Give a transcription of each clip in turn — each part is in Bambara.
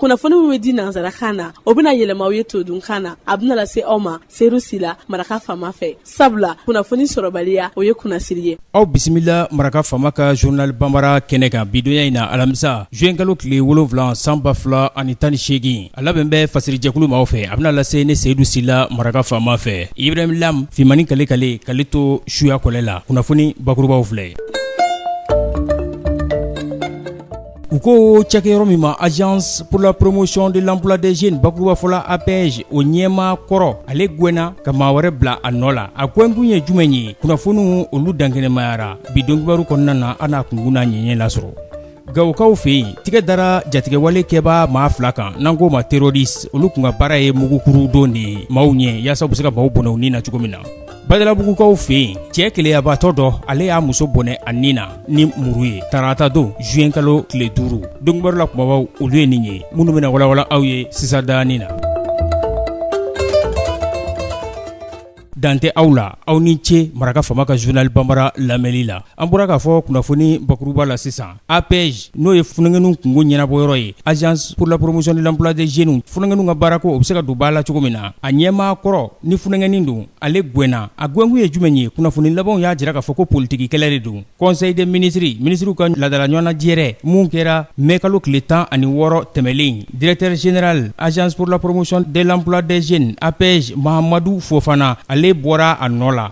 kunnafoni min bɛ di nansarakan na o bɛna yɛlɛma aw ye todunkan na a bɛna lase aw ma seyidu sila maraka faama fɛ sabula kunnafoni sɔrɔbaliya o ye kunnasiri ye aw bisimila maraka faama ka journal banbara kɛnɛ kan bidonya in na alamisa juwenkalo tile wolonwula san ba fila ani tan ni seegin a labɛn bɛ fasirijɛkulu maaw fɛ a bɛna lase ne seyidu sila maraka faama fɛ ibrahim lam fimani kale kale kale to suya kɔlɛ la kunnafoni bakurubaw filɛ U ko cɛkɛyɔrɔ min ma agence pour la promotion de l'emploi des jeunes bakurubafɔla APEJ o ɲɛmaa kɔrɔ ale gɛnna ka maa wɛrɛ bila a nɔ la a gɛnkun ye jumɛn ye kunnafoniw olu dankɛnɛmayara bi donkibaru kɔnɔna na an n'a kunkun n'a ɲɛɲɛ lasɔrɔ gawokaw fɛ yen tɛgɛ dara jatigɛwale kɛbaa maa fila kan n'an k'o ma terroriste olu kun ka baara ye mugukuru don de ye maaw ɲɛ yaasa u bɛ se ka maaw bɔnɛ u ni na cogo min na Badalabugukaw fɛ yen cɛ keleyabaatɔ dɔ ale y'a muso bɔnɛ a ni na ni muru ye tarata don juwen kalo tile duuru donkibaru la kumabaw olu ye nin ye minnu bɛna walawala aw ye sisan danin na dantɛ aw la aw ni ce maraka faama ka journal banbara lamɛnli la an bɔra k'a fɔ kunnafoni bakuruba la sisan APEJ n'o ye funankɛninw kungo ɲɛnabɔ yɔrɔ ye agence pour la promotion de l'emploi des jeunes funankɛninw ka baara ko o bɛ se ka don ba la cogo min na a ɲɛmaa kɔrɔ ni funankɛnin don ale gɛnna a gɛnkun ye jumɛn ye kunnafoni labanw y'a jira k'a fɔ ko politikikɛlɛ de don conseil des ministres minisiriw ka laadala ɲɔgɔnnajɛrɛ min kɛra mɛ kalo tile tan ani wɔɔrɔ tɛmɛnlen directeur général agence pour la promotion de l'emploi des jeunes APEJ mahamadu fofana ale bɔra a nɔ la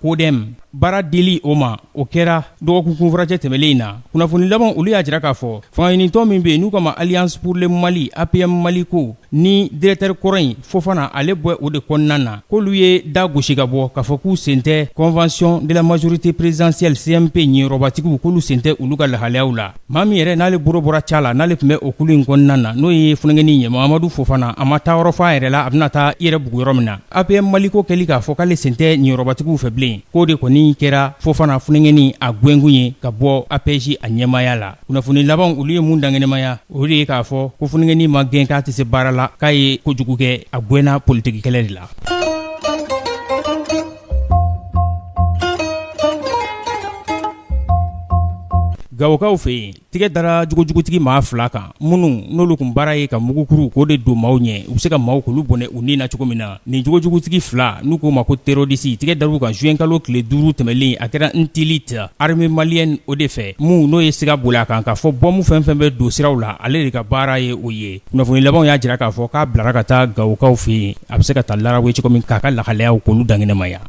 CODEM baara dili o ma o kɛra dɔgɔkun kunfuracɛ tɛmɛnen in na kunnafoni laban olu y'a jira k'a fɔ fangaɲinitɔn min bɛ yen n'u k'a ma alliance pour le mali APM mali ko ni directeur kɔrɔ in fofana ale bɔ o de kɔnɔna na k'olu ye da gosi ka bɔ k'a fɔ k'u sen tɛ convention de la majorité présidentielle CMP niyɔrɔbatigiw k'olu sen tɛ olu ka lahalayaw la maa min yɛrɛ n'ale bolo bɔra ca la n'ale tun bɛ o kulu in kɔnɔna na n'o ye funankɛnin ye mahamadu fofana a ma taa yɔrɔ f'a yɛrɛ la a bɛna taa i yɛrɛ bugu yɔrɔ min na APM Mali ko kɛli k'a fɔ k'ale sen tɛ niyɔrɔbatigiw fɛ bilen, k'o de kɔni kɛra Fofana funɛngɛni a gɛnkun ye ka bɔ APEJ a ɲɛmaaya la. Kunnafoni labanw olu ye mun dankɛnɛmaya, o de ye k'a fɔ ko funɛngɛni ma gɛn k'a tɛ se baara la, k'a ye ko jugu kɛ, a gɛnna politikikɛlɛ de la. Gawokaw fɛ yen, Tigɛ dara jogojugutigi maa fila kan minnu n'olu kun baara ye ka mugukuru k'o de don maaw ɲɛ u bɛ se ka maaw k'olu bɔnɛ u ni na cogo min na nin jogojugutigi fila n'u k'o ma ko terroriste tigɛ dar'u kan juwenkalo tile duuru tɛmɛnlen a kɛra ntilit armée malienne o de fɛ mun n'o ye siga boli a kan k'a fɔ bɔmu fɛn fɛn bɛ don siraw la ale de ka baara ye o ye kunnafoni labanw y'a jira k'a fɔ k'a bilara ka taa gawokaw fɛ yen a bɛ se ka taa lawe cogo min k'a ka lahalayaw k'olu dankɛnɛmaya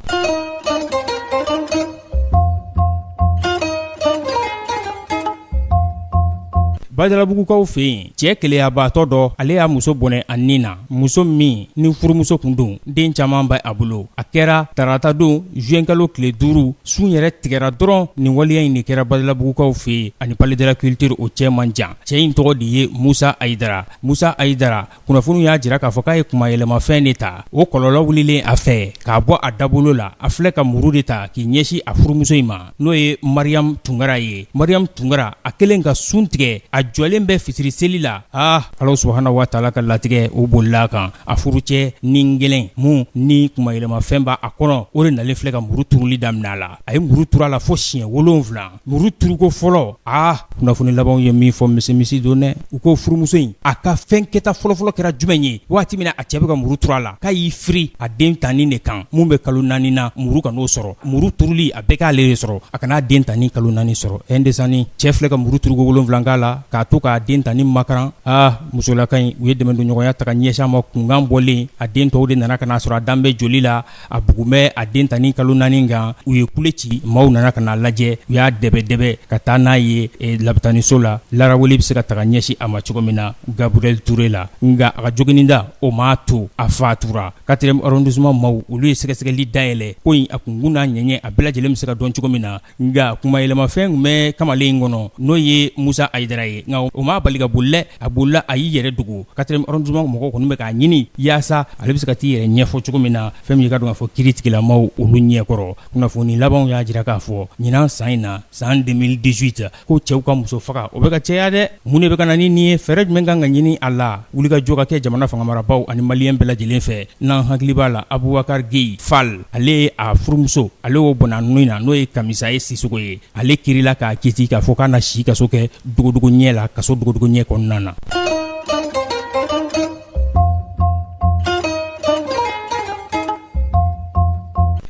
Bajabugukaw fɛ yen cɛ gɛlɛyayabaatɔ dɔ ale y'a muso bɔnɛ a ni na muso min ni furumuso kun don den caman bɛ a bolo a kɛra taratadon zuwɛnkalo tile duuru sun yɛrɛ tigɛra dɔrɔn nin waleya in nin kɛra badalabugukaw fɛ yen ani palais de la culture o cɛ man jan cɛ in tɔgɔ de ye musa ayidara musa ayidara kunnafoniw y'a jira k'a fɔ k'a ye kunmayɛlɛmafɛn de ta o kɔlɔlɔ wulilen a fɛ k'a bɔ a dabolo la a filɛ ka muru de ta k'i ɲɛsin a furumuso in ma n'o ye mariyamu tunkara ye mariyamu tunkara a kelen ka sun tigɛ a jɔlen bɛ fitiri seli la a ala subhana wa taala ka latigɛ o bolila a kan a furucɛ ni gɛlɛn min ni kunmayɛlɛmafɛn b'a a kɔnɔ o de nalen filɛ ka muru turuli daminɛ a la a ye muru tur'a la fo siɲɛ 7 muru turuko fɔlɔ aa kunnafoni labanw ye min fɔ misimisi don dɛ u ko furumuso in a ka fɛn kɛta fɔlɔfɔlɔ kɛra jumɛn ye waati min na a cɛ bɛ ka muru turu a la k'a y'i firi a den tanni de kan mun bɛ kalo naani na muru kan'o sɔrɔ muru turuli a bɛɛ k'ale de sɔrɔ a kan'a den tanni kalo naani sɔrɔ ɛɛ ndesanni cɛ filɛ ka muru turuko wolonwula k'a la k'a to k'a den tanni makaran aa musolaka in u ye dɛmɛdonɲɔgɔnya ta ka ɲɛsin a ma kunkan bɔlen a den tɔw de nana ka n'a sɔrɔ a dan bɛ joli la a bugun bɛ a den tanni kalo naani kan u ye kule ci maaw nana ka n'a lajɛ u y'a dɛbɛdɛbɛ ka taa n'a ye labitaniso la laraweli bɛ se ka ta ka ɲɛsin a ma cogo min na gabriel touré la nka a ka jogininda o m'a to a fatura quatrième arrondissement maaw olu ye sɛgɛsɛgɛli dayɛlɛ ko in a kunkun n'a ɲɛɲɛ a bɛɛ lajɛlen bɛ se ka dɔn cogo min na nka kunmayɛlɛmafɛn tun bɛ kamalen in kɔnɔ n'o ye musa ayidara ye nka o m'a bali ka boli dɛ a bolila a y'i yɛrɛ dogo quatrième arrondissement mɔgɔw kɔni bɛ k'a ɲini yaasa ale bɛ se ka t'i yɛrɛ ɲɛfɔ cogo min na fɛn min i k'a dɔn k'a fɔ kiri tigilamaw olu ɲɛkɔrɔ kunnafoni labanw y'a jira k'a fɔ ɲinan san in na san 2018 ko cɛw ka muso faga o bɛ ka caya dɛ mun de bɛ ka na ni nin ye fɛɛrɛ jumɛn kan ka ɲini a la wulikajɔ ka kɛ jamana fangamarabaaw ani maliyɛn bɛɛ lajɛlen fɛ n'an hakili b'a la Abubakari Geyi Fal ale ye a furumuso ale y'o bɔnɛ a ni na n'o ye Kamisa ye Sisoko ye ale kirila k'a kiti k'a fɔ k'a na si kaso kɛ dogodogo ɲɛ la kaso dogodogo ɲɛ kɔnɔna na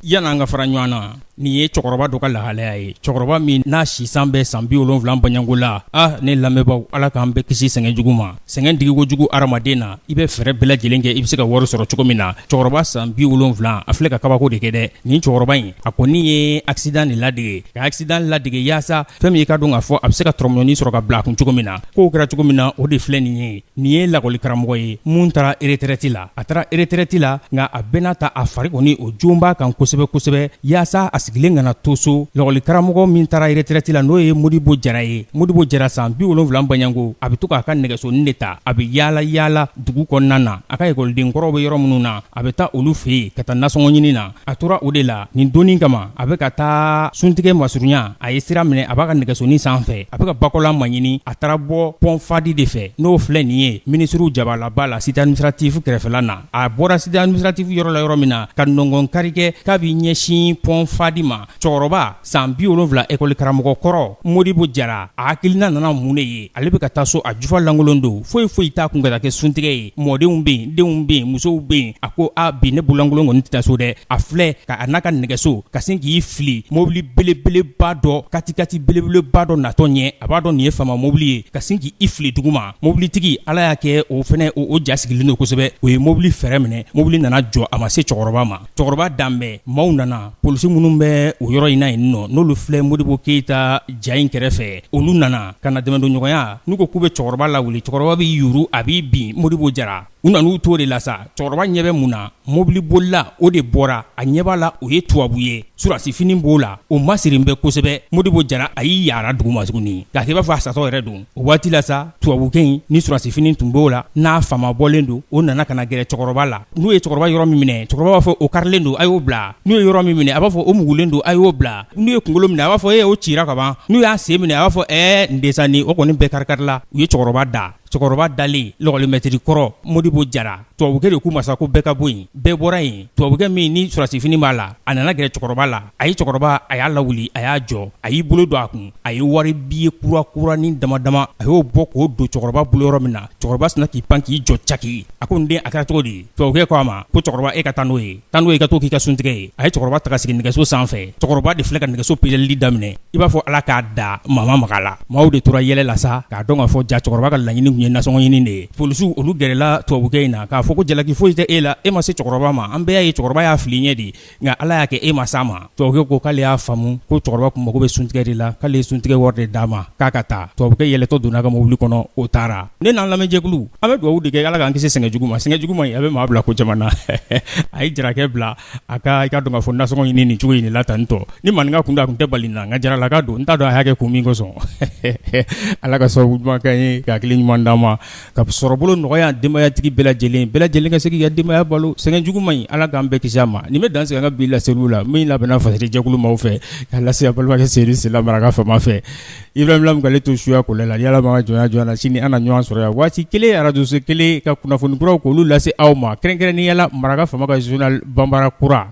yan'an ka fara ɲɔgɔn na Nin ye cɛkɔrɔba dɔ ka lahalaya ye cɛkɔrɔba min n'a si san bɛ san bi wolonwula bɔɲɔgɔnko la ah ne lamɛnbaaw ala k'an bɛɛ kisi sɛgɛn jugu ma sɛgɛn digi ko jugu hadamaden na i bɛ fɛɛrɛ bɛɛ lajɛlen kɛ i bɛ se ka wari sɔrɔ cogo min na cɛkɔrɔba san bi wolonwula a filɛ ka kabako de kɛ dɛ nin cɛkɔrɔba in a kɔni ye accident de ladege ka accident ladege yaasa fɛn min i k'a dɔn k'a fɔ a bɛ se ka dɔrɔmɛnin sɔrɔ ka bila a kun cogo min na ko kɛra cogo min na o de filɛ nin ye nin ye lakɔli karamɔgɔ ye min taara retraite la a taara retraite la nka a bɛɛ n'a ta a fari kɔni o joon b'a kan kosɛbɛ kosɛbɛ yaasa a sigilen kana to so lakɔli karamɔgɔ min taara retraite la n'o ye modibo jara ye modibo jara san bi wolonwula baɲango a bɛ to k'a ka nɛgɛsonin de ta a bɛ yaala yaala dugu kɔnɔna na a ka ekɔliden kɔrɔw bɛ yɔrɔ minnu na a bɛ taa olu fɛ yen ka taa nasɔngɔ ɲini na a tora o de la nin don in kama a bɛ ka taa suntigɛ masurunya a ye sira minɛ a b'a ka nɛgɛsonin sanfɛ a bɛ ka Bakɔla maɲini a taara bɔ pɔn Fadi de fɛ n'o filɛ nin ye minisiriw jabalaba la cité administrative kɛrɛfɛla na a bɔra cité administrative yɔrɔ la yɔrɔ min na ka nɔngɔn kari kɛ k'a b'i ɲɛsin pɔn Fadi ma cɛkɔrɔba San bi wolonfila ekɔlikaramɔgɔ kɔrɔ Modibo Jara a hakilina nana mun de ye ale bɛ ka taa so a jufa lankolon don foyi foyi t'a kun ka taa kɛ suntigɛ ye mɔdenw bɛ yen denw bɛ yen musow bɛ yen a ko a bi ne bololankolon kɔni tɛ taa so dɛ a filɛ ka a n'a ka nɛgɛso ka sin k'i fili mɔbili belebeleba dɔ katikati belebeleba dɔ natɔ ɲɛ a b'a dɔn nin ye faama mɔbili ye ka sin k' i fili dugu ma mobilitigi ala y'a kɛ o fɛnɛ o ja sigilen don kosɛbɛ o ye mobili fɛrɛn minɛ mobili nana jɔ a ma se cɛkɔrɔba ma cɛkɔrɔba danbɛn maaw nana polisi minnu bɛ o yɔrɔ in na yen nɔ n'olu filɛ Modibo Keyita ja in kɛrɛfɛ olu nana ka na dɛmɛdonɲɔgɔnya n'u ko k'u bɛ cɛkɔrɔba lawuli cɛkɔrɔba b'i yuru a b'i bin Modibo Jara u nan'u to de la sa cɛkɔrɔba ɲɛ bɛ mun na mobili bolila o de bɔra a ɲɛ b'a la o ye tubabu ye surasifini b'o la o masirilen bɛ kosɛbɛ Modibo Jara a y'i yaara dugu ma tuguni k'a kɛ i b'a fɔ a satɔ yɛrɛ don O waati la sa tubabukɛ in ni sɔrɔdasifini tun b'o la n'a faama bɔlen don o nana ka na gɛrɛ cɛkɔrɔba la n'u ye cɛkɔrɔba yɔrɔ min minɛ cɛkɔrɔba b'a fɔ o karilen don a y'o bila n'u ye yɔrɔ min minɛ a b'a fɔ o mugulen don a y'o bila n'u ye kunkolo minɛ a b'a fɔ e o cira ka ban n'u y'a sen minɛ a b'a fɔ ɛɛ n desanni o kɔni bɛɛ kari-karila u ye cɛkɔrɔba da cɛkɔrɔba dalen lakɔlimɛtiri kɔrɔ Modibo Jara Tubabukɛ de k'u ma sa ko bɛɛ ka bɔ yen, bɛɛ bɔra yen, tubabukɛ min ni sɔrɔdasifini b'a la, a nana gɛrɛ cɛkɔrɔba la, a ye cɛkɔrɔba, a y'a lawuli, a y'a jɔ, a y'i bolo don a kun, a ye wari billet kura kuranin dama dama, a y'o bɔ k'o don cɛkɔrɔba bolo yɔrɔ min na, cɛkɔrɔba sina k'i pan k'i jɔ caki, a ko n den a kɛra cogo di? Tubabukɛ ko a ma ko cɛkɔrɔba e ka taa n'o ye. tan i ka t'o k'i ka suntigɛ ye a ye cɛkɔrɔba ta k'a sigi nɛgɛso sanfɛ cɛkɔrɔba de filɛ ka nɛgɛso peleli daminɛ i b'a fɔ ala k'a da mama maga la maaw de tora yɛlɛ la sa k'a dɔn k'a fɔ ja cɛkɔrɔba ka laɲini tun ye nasɔngɔ ɲini de ye polisiw olu gɛrɛla tubabukɛ in na k'a fɔ ko jalaki foyi tɛ e la e ma se cɛkɔrɔba ma an bɛɛ y'a ye cɛkɔrɔba y'a fili ɲɛ de nka ala y'a kɛ e ma s'a ma Tubabu ko k'ale y'a faamu ko cɛkɔrɔba tun mago bɛ suntigɛ de la k'ale ye suntigɛ wari de d'a ma k'a ka taa tubabukɛ yɛlɛtɔ donna a ka mobili kɔnɔ o taara ne n'an lamɛnjɛkulu an bɛ dugawu de kɛ ala k'an kisi sɛgɛn jugu ma sɛgɛn jugu ma a bɛ maa bila ko caman na a ye jarakɛ bila a ka i ka dɔn k'a fɔ nasɔngɔ ɲini nin cogo in de la tan ntɔ ni maninka kun da a tun tɛ bali na nka jaralaka don n t'a dɔn a y'a kɛ kun min kosɔn ala ka sɔn ɲuman kɛ ye ka hakili ɲuman d'a ma ka sɔrɔbolo nɔgɔya denbayatigi bɛɛ lajɛlen bɛɛ lajɛlen ka se k'i ka denbaya balo sɛgɛn jugu man ɲi ala k'an bɛɛ kisi a ma nin bɛ dan sigi an ka bi laseli la min labɛnna fajɛkulu maaw fɛ k'a lase a balimakɛ Seydou Sila Maraka fama fɛ i bɛale to suya ko la yala ma jɔnya na sini an na ɲɔgɔn sɔrɔ yan waati kelen arajoso kelen ka kunnafoni kura k'olu lase aw ma kɛrɛnkɛrɛnnenya la Maraka fama ka journal banbara kura